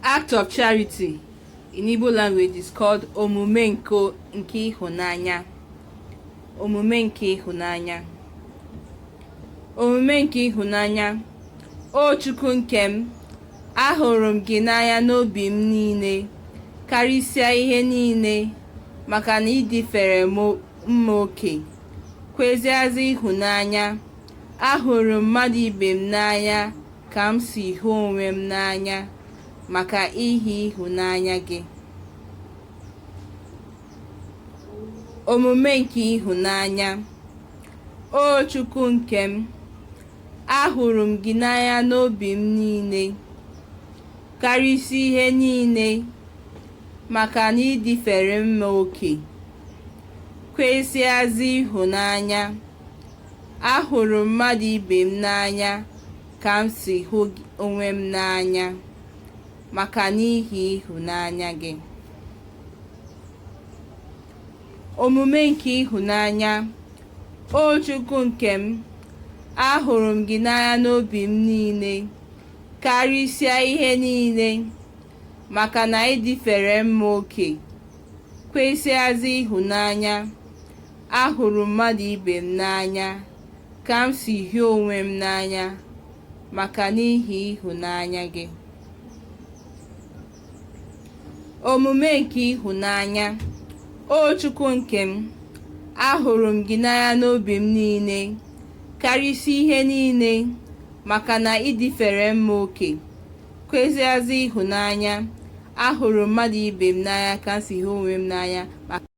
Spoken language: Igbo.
Act of charity in Igbo language is called omume nke ịhụnanya. Omume nke ịhụnanya. O Chukwu nke m, ahụrụ m gị n'anya n'obi m niile, karịsịa ihe niile, maka na ị dịfere mma oke, kwesịazị ịhụnanya. Ahụrụ m mmadụ ibe m n'anya. ka m si hụ onwe m n'anya maka ihi ịhụnanya gị. Omume nke ịhụnanya O Chukwu nke m, ahụrụ m gị n'anya n'obi m niile, karịsịa ihe niile, maka na ị dịfere mma oke, kwesịazị ịhụnanya. Ahụrụ m mmadụ ibe m n'anya ka m si hụ onwe m n'anya maka n'ihi ịhụnanya gị. Omume nke ịhụnanya, O Chukwu nke m, ahụrụ m gị n'anya n'obi m niile, karịsịa ihe niile, maka na ị dịfere mma oke, kwesịazị ịhụnanya. Ahụrụ m mmadụ ibe m n'anya ka m si hụ onwe m n'anya maka n'ihi ịhụnanya gị. Omume nke ịhụnanya, O Chukwu nke m, ahụrụ m gị n'anya n'obi m niile, karịsịa ihe niile, maka na ị dịfere mma oke, kwesịazị ịhụnanya. Ahụrụ m mmadụ ibe m n'anya ka m si hụ onwe m n'anya maka